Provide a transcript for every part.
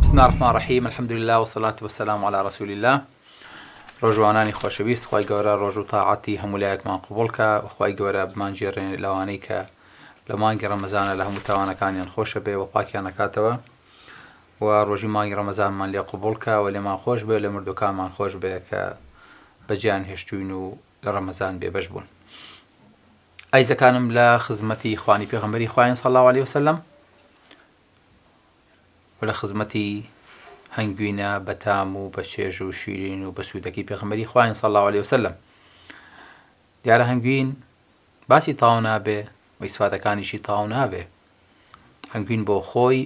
بسم اللە الرحمن الرحیم الحمد للە والصلوة والسلام علی رسول اللە ڕۆژوانانی خۆشەویست خوای گەورە ڕۆژ و تاعەتی هەموو لایەکمان قبوڵ کا و خوای گەورە بمانگێڕێنێ لەوانەی کە لە مانگی ڕەمەزانا لە هەموو تاوانەکانیان خۆشە بێ و پاکیان ئەکاتەوە و ڕۆژی مانگی ڕەمەزانمان لێ قبوڵ کا و لێمان خۆش بێ و لە مردووەکانمان خۆش بێ کە بەجێیان هێشتووین و لە ڕەمەزان بێبەش بوون ئایزەکانم لە خزمەتی خوانی پێغەمبەری خوایان صلی الله علیه وسلم و لە خزمەتی هەنگوینە بە تام و بە چێژ و شیرین و بە سوودەکەی پێغمبەری خواین صلی الله علیه وسلم دیارە هەنگوین باسی تاو نابێ و ئیسفادەکانیشی تاو نابێ هەنگوین بۆ خۆی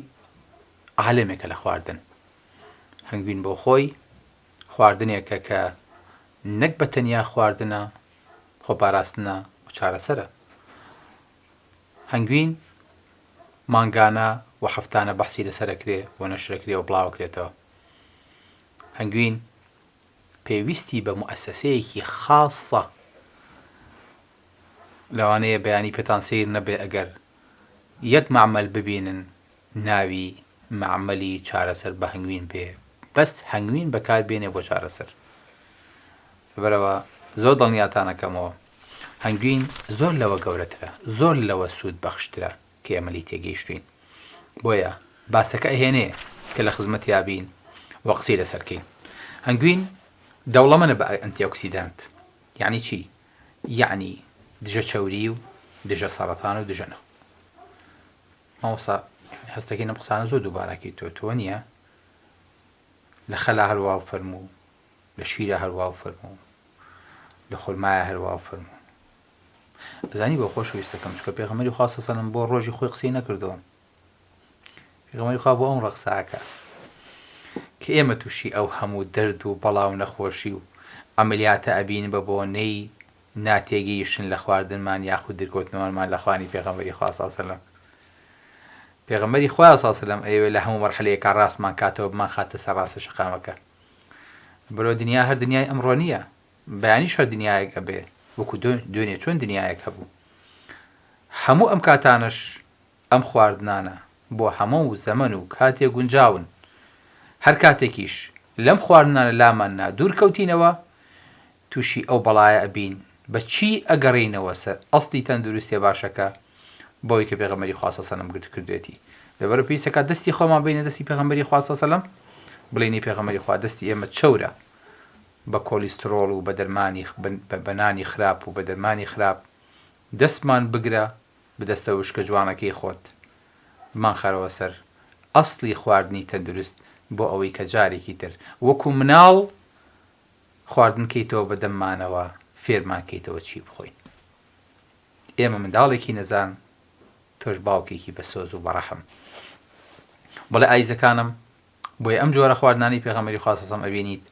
عالمێکە لە خواردن هەنگوین بۆ خۆی خواردنێکە کە نەک بە تەنیا خواردنە خۆپاراستنە و چارەسەرە هەنگوین، مانگانە و هەفتانە بەحسی لەسەر ئەکرێ و نەشر ئەکرێ و بڵاو ئەکرێتەوە. هەنگوین پێویستی بە موئەسەسەیەکی خاسە. لەوانەیە بەیانی پێتان سەیر نەبێ ئەگەر یەک مەعمەل ببینن ناوی مەعمەلی چارەسەر بە هەنگوین بێ بەس هەنگوین بەکار بێنێ بۆ چارەسەر. لەبەرئەوە زۆر دڵنیاتانەکەمەوە هەنگوین زۆر لەوە گەورەترە زۆر لەوە سود بەخشترە کە ئێمە لێی تێگەیشتوین بۆیە باسەکە ئەهێنێ کە لە خزمەتیابین و قسەی لەسەرکەین هەنگوین دەوڵەمەنە بە ئەنتی ئۆکسیدانت یعنی چی یعنی دژە چەوری و دژە سەرەتان و دژە نخ ماوەسا هەستەکەی نەم قسانە زۆر دووباراکی تۆ تۆ نییە لە خەلا هەروا و فەرموو لە شیرە هەر واو فەرموو لە خورمایە هەر واو فەرموو ئەزانی بۆ خۆشەویستەکەم چکە پێغەمەری خوا سەسەلم بۆ ڕۆژی خۆی قسەی نەکردەوە پێغەمەری خوا بۆ ئەم ڕەقساکە کە ئێمە تووشی ئەو هەموو دەرد و بەڵا و نەخۆشی و ئەملیاتە ئەبین بە بۆنەی ناتێگەیشتن لە خواردنمان یاخود درکەوتنەوەمان لە خوانی پێغەمەری خوا سەسەلم پێغەمەری خوا سەسەلم ئەیەوێ لە هەموو مەرحەلەیەکە ڕاستمان کاتەوە بمان خاتە سەر ڕاستە شەقامەکە برۆ دنیا هەر دنیای ئەمڕۆ نیە بەیانیش هەر دنیایەک ئەبێ وەکو دوێنێ چۆن دنیایەک هەبوو هەموو ئەم کاتانەش ئەم خواردنانە بۆ هەموو زەمەن و کاتێ گونجاون هەر کاتێکیش لەم خواردنانە لاماننا دوور کەوتینەوە توشی ئەو بەڵایە ئەبین بە چی ئەگەڕێینەوە سەر ئەسڵی تەندروستیە باشەکە بەوەی کە پێغەمبەری خوا صلی سەلەم گرت کردوێتی لەبەرو پێویستە کە دەستی خۆمان بەینە دەستی پێغەمبەری خوا صلی سەلەم بڵێین ای پێغەمبەری خوا دەستی ئێمە چەورە بە کۆلیستڕۆڵ و بە دەرمانی بە نانی خراپ و بە دەرمانی خراپ دەستمان بگرە بە دەستە وشکە جوانەکەی خۆت بمان خەرەوە سەر ئەسڵی خواردنی تەندروست بۆ ئەوەی کە جارێکی تر وەکو مناڵ خواردن کەیتەوە بە دەممانەوە فێرمان کەیتەوە چی بخۆین ئێمە منداڵێکی نەزان تۆش باوکێکی بە سۆز و بەڕەحم بڵێ ئایزەکانم بۆیە ئەم جۆرە خواردنانی پێغەمەری خواسەسەم ئەبینیت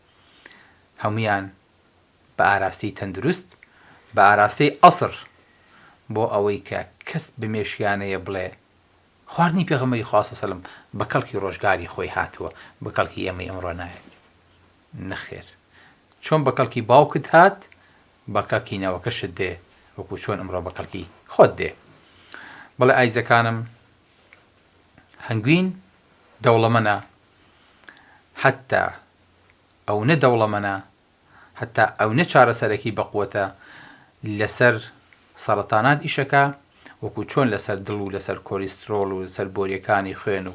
هەمویان بە ئاراستەی تەندروست بە ئاراستەی ئەسر بۆ ئەوەی کە کەس بمێشیانەیە بڵێ خواردنی پێغەمەری خواسەسەلم بە کەڵکی ڕۆژگاری خۆی هاتووە بە کەڵکی ئێمەی ئەمڕۆ نایەت نەخێر چۆن بە کەڵکی باوکت هات بە کەڵکی نەوەکەشت دێ وەکو چۆن ئمڕۆ بە کەڵکی خۆت دێ بەڵێ ئایزەکانم هەنگوین دەوڵەمەنە حتا ئەونە دەوڵەمەنە هەتا ئەونە چارەسەرەکی بەقوەتە لەسەر سەڕەتانات ئیشەکە وەکو چۆن لەسەر دڵ و لەسەر کۆلیسترۆڵ و لەسەر بۆریەکانی خوێن و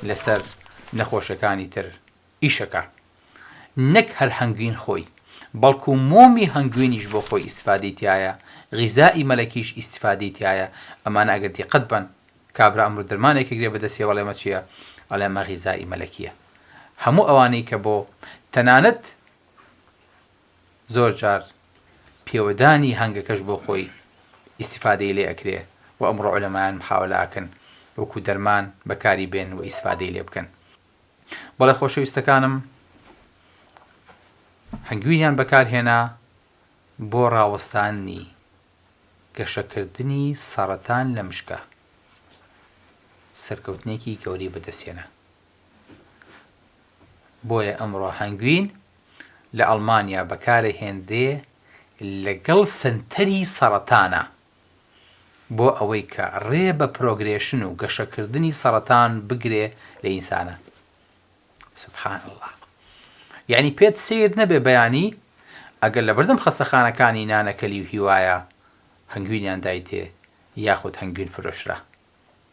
لەسەر نەخۆشەکانی تر ئیشەکە نەک هەر هەنگوین خۆی بەڵکو مۆمی هەنگوینیش بۆ خۆی ئیستفادەی تیایە غیزائی مەلەکیش ئیستفادەی تیایە ئەمانە ئەگەر دیقەت بەن کابرا ئەمرۆ دەرمانێک ئەگرێ بەدەسیەوە ئەڵێ ئەمە چیە ئەڵێ ئەمە غیزائی مەلەکیە هەموو ئەوانەی کە بۆ تەنانەت زۆر جار پێوەدانی هەنگەکەش بۆ خۆی ئیستفادەی لێ ئەکرێ و ئەمڕۆ عولەمایان محاولە ئەکەن وەکو دەرمان بەکاری بێن و ئیستفادەی لێ بکەن بەڵێ خۆشەویستەکانم هەنگوینیان بەکارهێنا بۆ ڕاوەستانی گەشەکردنی سەڕەتان لە مشکە سەرکەوتنێکی گەوری بەدەستێنا بۆیە ئەمڕۆ هەنگوین لە ئەڵمانیا بەکارە هێنرێ لەگەڵ سنتەری سەڕەتانە بۆ ئەوەی کە ڕێ بە پرۆگرێشن و گەشەکردنی سەڕەتان بگرێ لە ئینسانە سبحان اللە یەعنی پێت سەیر نەبێ بەیانی ئەگەر لەبەردەم خەستەخانەکانی نانەکەلی و هیوایە هەنگوینیان دایتێ یاخود هەنگوین فرۆشرا.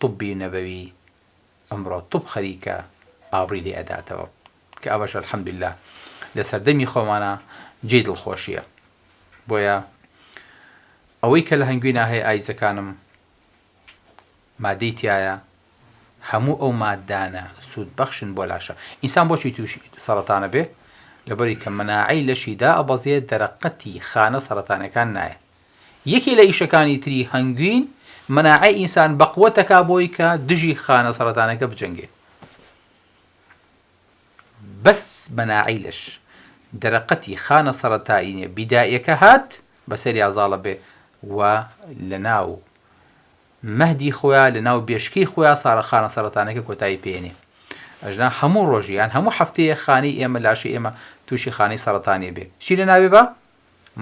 طوبی نەبەوی ئەمڕۆ طوب خەریکە ئابڕوی لێ ئەداتەوە کە ئەوەش الحمدللە لە سەردەمی خۆمانا جێی دڵخۆشیە بۆیە ئەوەی کە لە هەنگوینا هەیە ئایزەکانم مادەی تیایە هەموو ئەو مادانە سوود بەخشن بۆ لاشە ئینسان بۆچی تووشی سەرەتانە بێ لەبەری کە مناعەی لەشی دا ئەبەزێ دەرەقەتی خانە سەرەتانەکان نایە یەکێ لە ئیشەکانی تری هەنگوین مەناعەی ئینسان بەقوەت دەکا بۆی کە دژی خانە سەڕەتانەکە بجەنگێ بەس مەناعەی لەش دەرەقەتی خانە سەڕەتایینە بیدائیەکە هات بەسەریا زاڵە بێ و لەناو مەهدی خۆیا لەناو بێشکەی خۆیا سارە خانە سەڕەتانەکە کۆتایی پێێنێ ئەژنا هەموو ڕۆژیان هەموو هەفتەیە خانی ئێمە لاشی ئێمە تووشی خانەی سەرەتانێ بێ چی لە ناوێ بە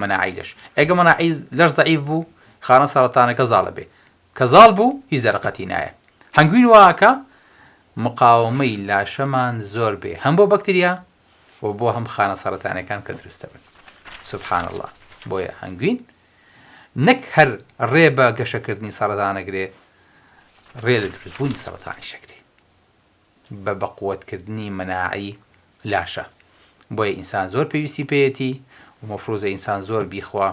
مناعەی لەش ئەگە مناعەی لەش زەعیف بوو خانە سەرەتانەکە زاڵە بێ کە زاڵ بوو هیچ دەرەقەتی نایە هەنگوین وا ئەکا مقاوەمەی لاشەمان زۆر بێ هەم بۆ بەکتریا و بۆ هەم خانە سەرەتانەکان کە دروست دەبن سبحان الله بۆیە هەنگوین نەک هەر ڕێ بە گەشەکردنی سەرەتانەگرێ ڕێ لە دروستبوونی سەرەتانی شەکرێ بە بەقوەت کردنی مەناعەی لاشە بۆیە ئینسان زۆر پێویستی پێیەتی و مەفروزە ئینسان زۆر بیخوا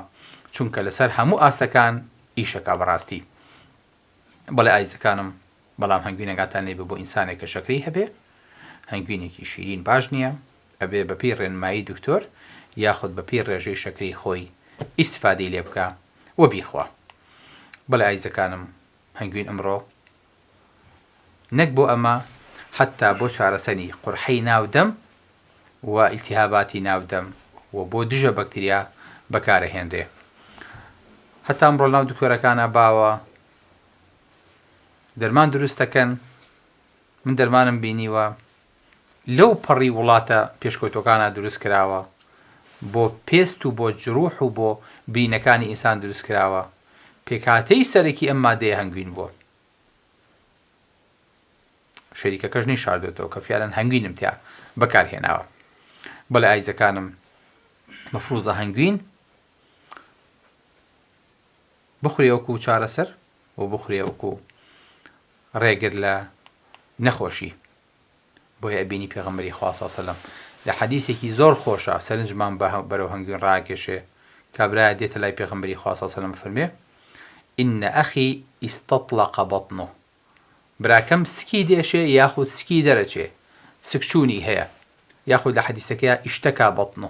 چونکە لەسەر هەموو ئاستەکان ئیشەکا بەڕاستی بەڵێ ئازیزەکانم بەڵام هەنگوینەکاتان لێبێ بۆ ئینسانێک کە شەکرەی هەبێ هەنگوینێکی شیرین باش نیە ئەبێ بەپێی ڕێنمایی دکتۆر یاخود بەپێی ڕێژەی شەکرەی خۆی ئیستفادەی لێبکا و بیخوا بەڵێ ئازیزەکانم هەنگوین ئەمڕۆ نەک بۆ ئەمە حەتتا بۆ چارەسەنی قورحەی ناو دەم و ئیلتیهاباتی ناو دەم و بۆ دژە بەکتریا بەکارەهێنرێ هەتا ئەمڕۆ لەناو دکتۆرەکانا باوە دەرمان دروست دەکەن من دەرمانم بینیوە لەو پەڕی وڵاتە پێشکەوتوەکانا دروست کراوە بۆ پێست و بۆ جروح و بۆ برینەکانی ئینسان دروست کراوە پێکهاتەی سەرەکی ئەم مادەیە هەنگوین بوە شەریکەکەش نەی شاردۆتەوە کە فیعلەن هەنگوینم تیا بەکار هێناوە بەڵێ ئایزەکانم مەفروزە هەنگوین بخورێ وەکو چارەسەر و بخورێ وەکو ڕێگر لە نەخۆشی بۆیە ئەبینی پێغەمبەری خوا صلی سەلەم لە حەدیسێکی زۆر خۆشە سەرنجمان بە بەرەو هەنگوین ڕاکێشێ کابرایە دێتە لای پێغەمبەری خوا صلی سەلەم فەرمێ ان اخی استطلق بطنه براکەم سکی دێشێ یاخود سکی دەرەچێ سکچوونی هەیە یاخود لە حەدیسەکەیا ئیشتەکا بەطنه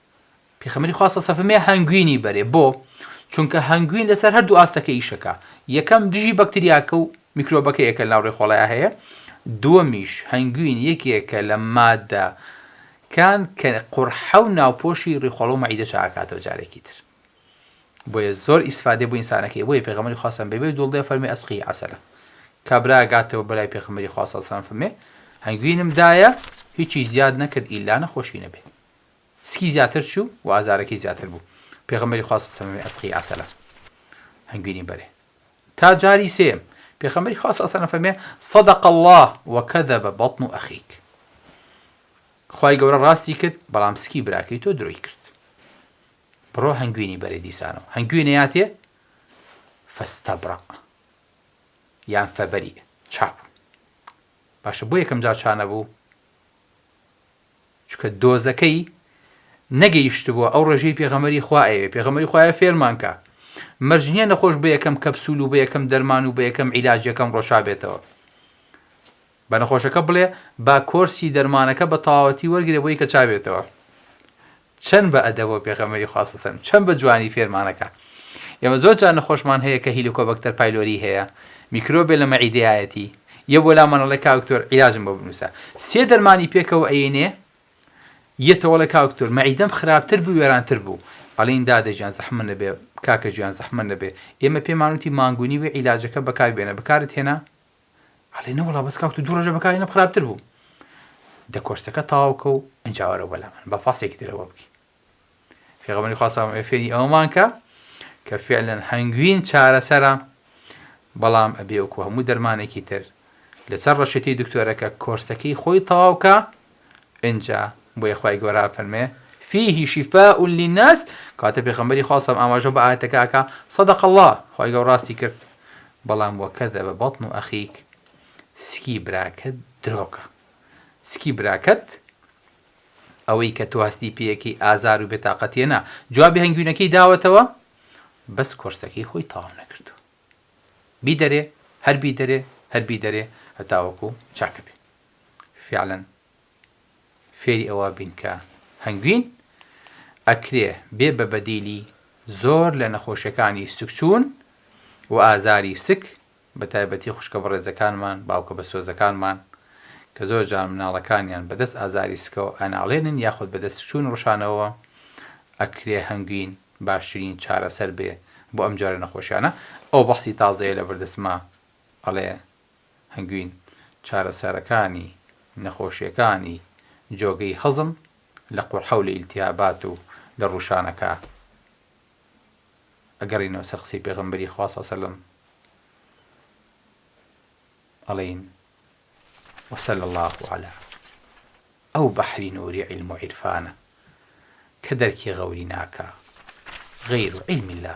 پێخەمبەری خوا سەسە فەرمێ هەنگوینی بەرێ بۆ چونکە هەنگوین لەسەر هەردوو ئاستەکە ئیشەکە یەکەم دژی بەکتریاکە و میکرۆبەکە یەکە ناو ڕێخۆڵەیە هەیە دووەمیش هەنگوین یەکێکە لە مادە کان کە قڕحە و ناوپۆشی ڕیخۆڵە و مەعیدە چاکاتەوە جارێکی تر بۆیە زۆر ئیسفادێ بۆ ئینسانەکەی بۆیە پێغەمەری خواستم بێ بێ دوڵدێ فەرمی ئەسقی عسلە کابرا گاتەوە بەلای پێخەمەری خواستەسان فەرمێ هەنگوینم دایە هیچی زیاد نەکرد ئیلا نەخۆشی نەبێ سکی زیاتر چوو و ئازارەکەی زیاتر بوو، پێغەمبەری خوا صلی اللە علیە و سلم فەرمی، ئەسقی عسلا، هەنگوینی بەرێ. تا جاری سێیەم، پێغەمبەری خوا صلی اللە علیە و سلم فەرمی، صدق اللە و کذب بطن اخیک، خوای گەورە ڕاستی کرد، بەڵام سکی براکەی تۆ درۆی کرد. بڕۆ هەنگوینی بەرێ دیسانەوە هەنگوینیاتێ، فاستبرئ یان فبریئ، چاک بوو. باشە بۆ یەکەم جار چا نەبوو؟ چونکە دۆزەکەی نەگەیشتبوە ئەو ڕێژەی پێغەمبەری خوا ئەیەوێ پێغەمبەری خوا ئەیەوێ فێرمان کا مەرج نیە نەخۆش بە یەکەم کەپسول و بە یەکەم دەرمان و بە یەکەم عیلاج یەکەم ڕۆشا بێتەوە بە نەخۆشەکە بڵێ با کۆرسی دەرمانەکە بە تەواوەتی وەرگرێ بۆی کە چابێتەوە چەن بە ئەدەبە و پێغەمبەری خوا صلی سەلم چەن بە جوانی فێرمان ئەکا ئێمە زۆر جار نەخۆشمان هەیە کە هیلوکۆبەکتەر پایلۆری هەیە میکرۆبێ لە مەعیدەیایەتی یە بۆ لامان ئەڵێ کاک دکتۆر عیلاجم بۆ بنووسە سێ دەرمانی پێکەوە ئەیەنێ یە تۆڵێ کاک دکتۆر مەعیدەم خراپتر بوو وێرانتر بوو ئەڵین دادە گیان زەحمە نەبێ کاکە گیان زەحمە نەبێ ئێمە پێمانوتی مانگونی وێ عیلاجەکە بەکار بێنە بەکارت هێنا ئەڵێ نەوەڵا بەس کاک تۆ دوو ڕۆژە بەکاری نەم خراپتر بوو دە کۆرسەکە تەواوکە و ئەجا وەرەوە بەلا من بە فاسێکی ترەوە بکەین فێغەمەری خواستم فێری ئەومان کە کە فعلەن هەنگوین چارەسەرە بەڵام ئەبێ وەکو هەموو دەرمانێکی تر لەسەر ڕەشێتی دکتۆرەکە کۆرسەکەی خۆی تەواوکە ئینجا بۆیە خوای گەورە ئەفەرموێ، فیه شفاء للناس، کەواتە پێخەمبەری خوا سەلام ئاماژە بە ئایەتەکە ئەکا، صدق اللە، خوای گەورە ڕاستی کرد، بەڵام وکذب بطن اخیک، سکی براکەت درۆکە، سکی براکەت ئەوەی کە تۆ هەستی پێیەکەی ئازار و بێتاقەتیە نا، جوابی هەنگوینەکەی داوەتەوە، بەس کۆرسەکەی خۆی تەواو نەکردووە، بیدەرێ، هەر بیدەرێ، هەر بیدەرێ هەتاوەکو چاکەبێ. فیعلەن فێری ئەوە بین کە هەنگوین ئەکرێ بێ بە بەدیلی زۆر لە نەخۆشیەکانی سکچوون و ئازاری سک بە تایبەتی خوشکە بەڕێزەکانمان باوکە بەسۆزەکانمان کە زۆر جار مناڵەکانیان بەدەست ئازاری سکەوە ئەناڵێنن یاخود بەدەست سکچوون ڕشانەوە ئەکرێ هەنگوین باشترین چارەسەر بێ بۆ ئەم جۆرە نەخۆشیانە ئەوە بەحسی تازەیە لەبەردەسما ئەڵێ هەنگوین، چارەسەرەکانی نەخۆشیەکانی جۆگەی هەزم لە قورحەو لە ئیلتیهابات و لە ڕوشانەکە ئەگەڕینەوە سەر قسەی پێغەمبەری خوا صلی اللە علیە وسلم ئەڵێین وصلی اللە علی ئەو بەحری نوری علم و عیرفانە کە دەرکی غەوری ناکا غەیرو علم اللە